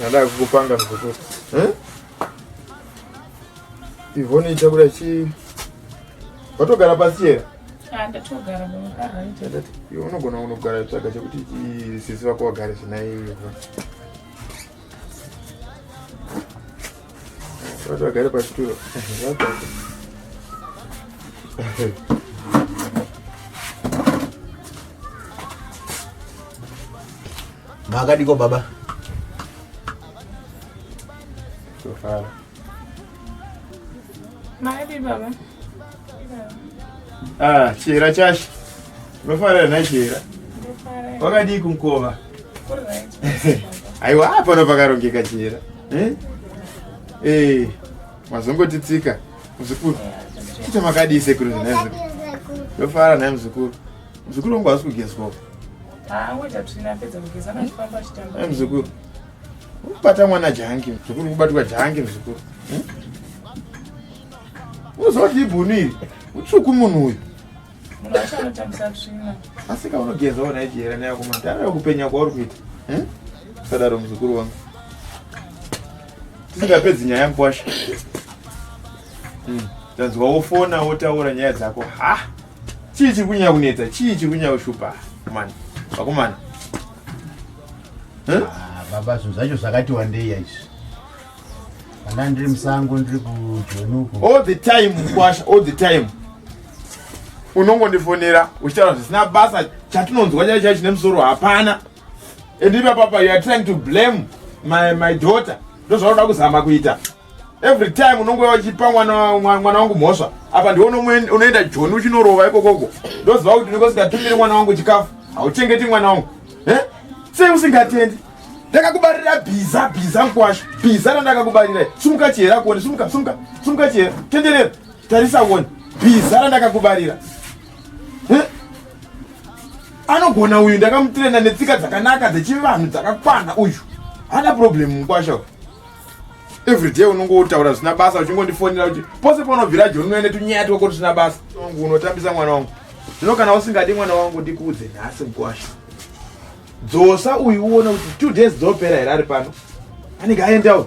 Nada kukupanga mkukuru. Eh? Ivone ichakura chi. Watogara pasi here? Ah, ndatogara mukara. Iwe unogona unogara tsvaga chekuti sisi vako vagare zvinaye iva. Vagare pachituro. Makadiko baba. Tofara. Maadi baba. Ah, chira chashi. Unofara na chira. Wakadii kumkova? Aiwa, hapana pakarongeka chira. Eh? Eh, mazongoti tsika muzukuru kuita makadii sekuru nhai muzukuru ndofara nhai muzukuru muzukuru wangu hausi kugezwawo ah, eh, muzukuru ukubata mwana jangi muzukuru ukubatwa jangi muzukuru hmm? uzoti ibhunu iri utsvuku munhu uyu asika unogeza ona ijera neyakuma tara kupenya kwauri kuita eh? sadaro muzukuru wangu tisingapedzi nyaya mkwasha hmm. tanzwa wofona wotaura nyaya dzako ha chii chiri kunyaya kunetsa chii chiri kunyaya kushupa mani vakomana eh? ah, baba zvinhu zvacho zvakati wandei yaizvi ndiri musango ndiri kujonuko all the time mkwasha all the time unongondifonera uchitaura zvisina basa chatinonzwa chai chai chine musoro hapana and ipapapa you are trying to blame my, my daughter ndozvaunoda kuzama kuita every time unonge wachipa mwana wangu mhosva apa ndiwo unoenda joni uchinorova ikokoko ndoziva kuti ndiko singatumiri mwana wangu chikafu hauchengeti mwana wangu eh? sei usingatendi ndakakubarira bhiza bhiza mkwasha bhiza randakakubarira sumuka chihera kuone sumuka sumuka sumuka chihera tenderera tarisa kuone bhiza randakakubarira anogona uyu ndakamutirena netsika dzakanaka dzechivanhu dzakakwana uyu hana problem mukwasha everyday unongo utaura zvisina basa uchingondifonera kuti pose paunobvira joni unoene tunyaya twako tusina basa wangu unotambisa mwana wangu zvino kana usingadi mwana wangu ndikuudze nhasi mukwasha dzosa uyu uone kuti two days dzopera here ari pano anenge aenda uyu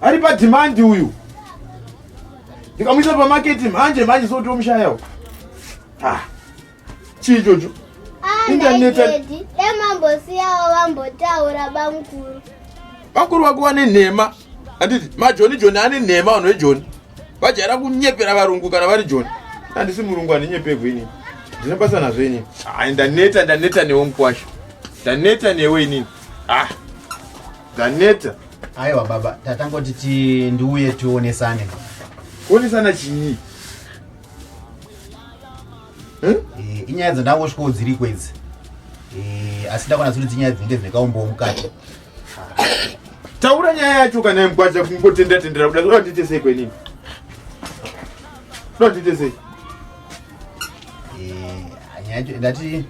ari padhimandi uyu ndikamuisa pamaketi mhanje mhanje sotomushaya uyu ah, chii ichocho ah, intanetdemambosiyawo vambotaura bamkuru bamkuru wako wane nhema handiti majoni joni ane nhema vanhu vejoni vajaira kunyepera varungu kana vari joni handisi murungu handinyepegwe inini ndine basa nazvo inini ai ndaneta ndaneta newe mukwasha ndaneta newe inini ah ndaneta aiwa baba tatangoti ti ndiuye tionesane kuonesana chii eh, inyaya dzandangosvikawo dziri kwedzi eh, asi ndakona zuri dzinyaya dzinenge dzinekaumboo mukati Taura nyaya yacho kana imgwaja kungotenda tendera kuda kuda ndite sei kwenini? Kuda ndite sei? Eh, anyacho ndati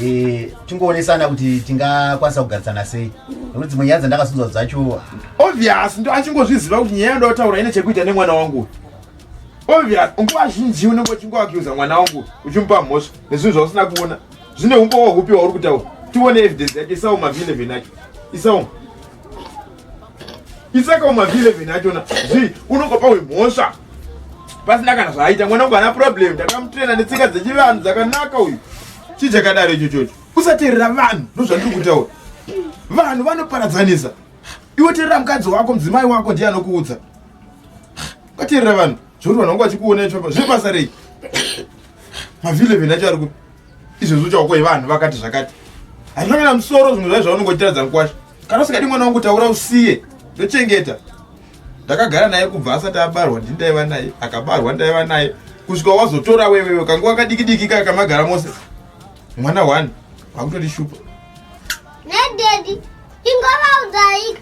eh tingowonesana kuti tingakwanisa kugarisana sei. Nekuti dzimwe nyaya dzandakasunzwa dzacho obvious ndo achingozviziva kuti nyaya yandava taura ine chekuita nemwana wangu obvious nguva zhinji unenge uchingoakiuza mwana wangu uchimupa mhosva nezvinhu zvausina kuona Zvine umbowa hupi wauri kutaura? Tione evidence yake isawo mavile venacho. Isawo. Isaka umavile venacho na. Zvi unokopa wemhosva. Pasina kana zvaita mwana wangu ana problem ndakamutraina netsika dzechivanhu dzakanaka uyu. Chii chakadaro icho chocho? Usateerera vanhu ndozvandiri kutaura. Vanhu vanoparadzanisa. Iwe teerera mukadzi wako mudzimai wako ndiye anokuudza. Ukateerera vanhu zvekuti vanhu vangu vachikuona icho zvepasa rei? mavileven acho ari kupi izvezvi uchaoko yevanhu vakati zvakati handina kana musoro zvimwe zvai zvaunongotiradza mukwasha kana usikadi mwana wangu taura usiye ndochengeta ndakagara naye kubva asati abarwa ndi ndaiva naye akabarwa ndaiva naye kusvika wazotora wewewe kanguva kadikidiki kaya kamagara mose mwana one akutotishupa nededi ingovaudzaika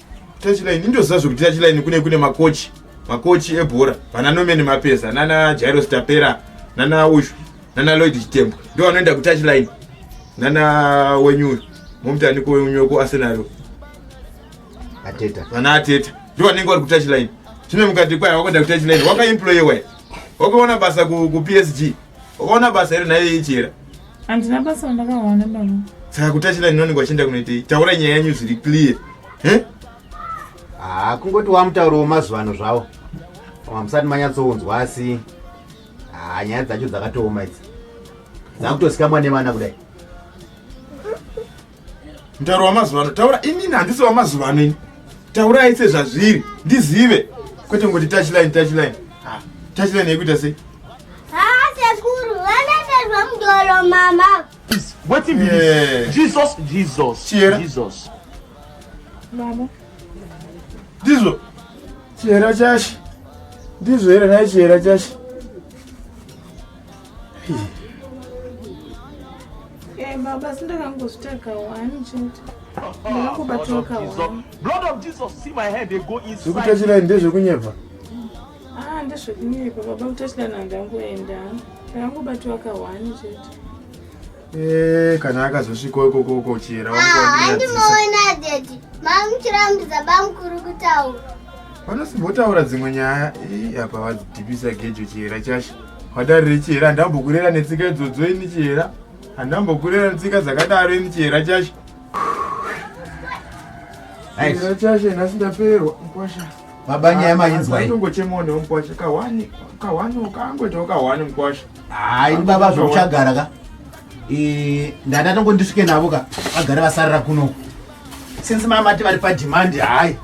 Tachilaini ndoziva zvekuti Tachilaini kune kune makochi makochi ebhora vana Norman Mapeza nana Jairo Stapera nana uyu nana Lloyd Chitembo ndo vanoenda ku Tachilaini nana wenyu uyu momutani kwenyu ku Arsenal Ateta vana Ateta ndo vanenge vari ku Tachilaini zvino mukati kwaya wakuenda ku Tachilaini wakaemployewa wakaona basa ku, ku PSG wakaona basa here naye ichera Andina basa randakawana baba. Saka kutachira ndinonenge wachienda kunoitei? Taura nyaya yenyu zviri clear. Eh? Ah, kungoti wamutauro wemazuva ano zvawo. Koma musati manyatsounzwa asi ah, nyaya dzacho dzakatooma idzi. Dzakutosikamwa nevana kudai. Mutauro wamazuva ano taura inini handisi wamazuva ano ini taurai sezvazviri ndizive kwete ngoti touchline touchline ah, touchline yekuita sei Mdolo mama. Please, what if yeah. Jesus, Jesus, Sierra. Jesus. Mama. Ndizo. Chihera chashi. Ndizo here naye chihera chashi. Eh, baba sindakangozvitaga wani chete ndakakubatwa kawani Blood of Jesus, see my hand, they go inside. zvekutachira ndezvekunyepa ah ndezvekunyepa baba kutachira nandangoenda ndakangobatwa kawani chete Eh, kana akazosvikawo ikoko uko chera wandiona ah, daddy mamuchirambidza bamukuru kutaura vanosimbotaura dzimwe nyaya apa vadzidhibisa gejo chihera chasha wadarire chihera handambokurera netsika idzodzo ini chihera handambokurera netsika dzakadaro ini chihera chasha chihera chasha nhasi ndapererwa mkwasha mabanyaya ah, mainzwa inongochemona mkwasha kahwani kahwani ukangoitawo kahwani mkwasha hayi ah, baba zvokuchagara ka eh, ndada tongo ndisvike navo ka vagare vasarira kuno since mamati vari padhimandi hayi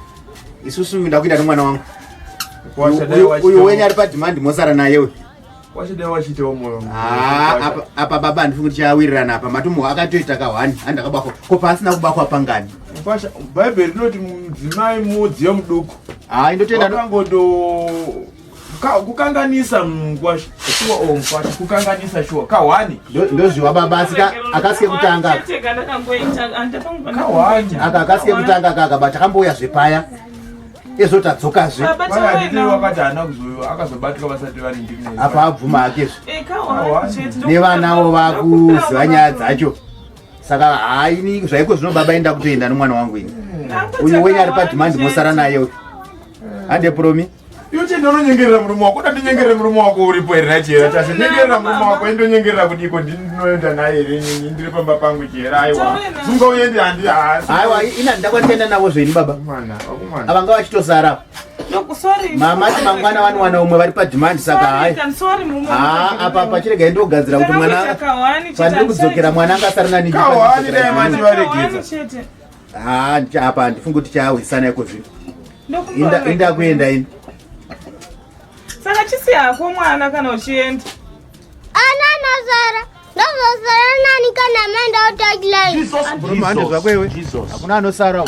isusu nda kuita nemwana wangu uyu wenyu ari padhimandi mosara nayewe ah, apa baba handifi kuti chawirirana apa matomo akatoita kahwani handakabakwa ko paasina kubakwa pangani bhaibheri rinoti mudzimai mudziyo muduku hayi ndotoenda kukanganisa kukanganisa shuwa kahwani ndozviwa baba asi akasike kutanga aka akasike kutanga kaka but akambouya zvepaya ezvo tadzokazve wakati haana kuzoiwa akazobatika vasati vari ndimi apa abvuma hake zve eh, nevanawo vakuziva nyaya dzacho saka haini zvaiko zvino baba enda kutoenda nomwana wangu ini uyu wenyu ari padhimandi mosara naye uyu hande promi Iwe chii ndononyengerera murume wako uda ndinyengerere murume wako uripo here nachihera chacho nyengerera murume wako indonyengerera kudiko ndinoenda naye here nyinyi ndiri pamba pangu chihera aiwa zunga uende handi haasi aiwa ina ndakwandienda navo zvenyu baba mwana wakumwana avanga vachitosara mama ti mangwana vanowana umwe vari padhimandi saka hai haa apa pachirega indogadzira kuti mwana pandiri kudzokera mwana anga asari nani haa apa handifungi kuti chaahwisana iko zvino inda kuenda ini saka chisi hako mwana kana uchienda ana anazara ndozosara nani kana maenda otakilaiandi zvako iwe hakuna anosara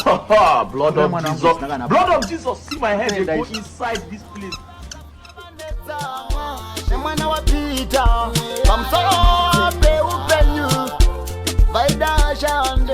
mwana wapita pamusoro peupenyu vaidashande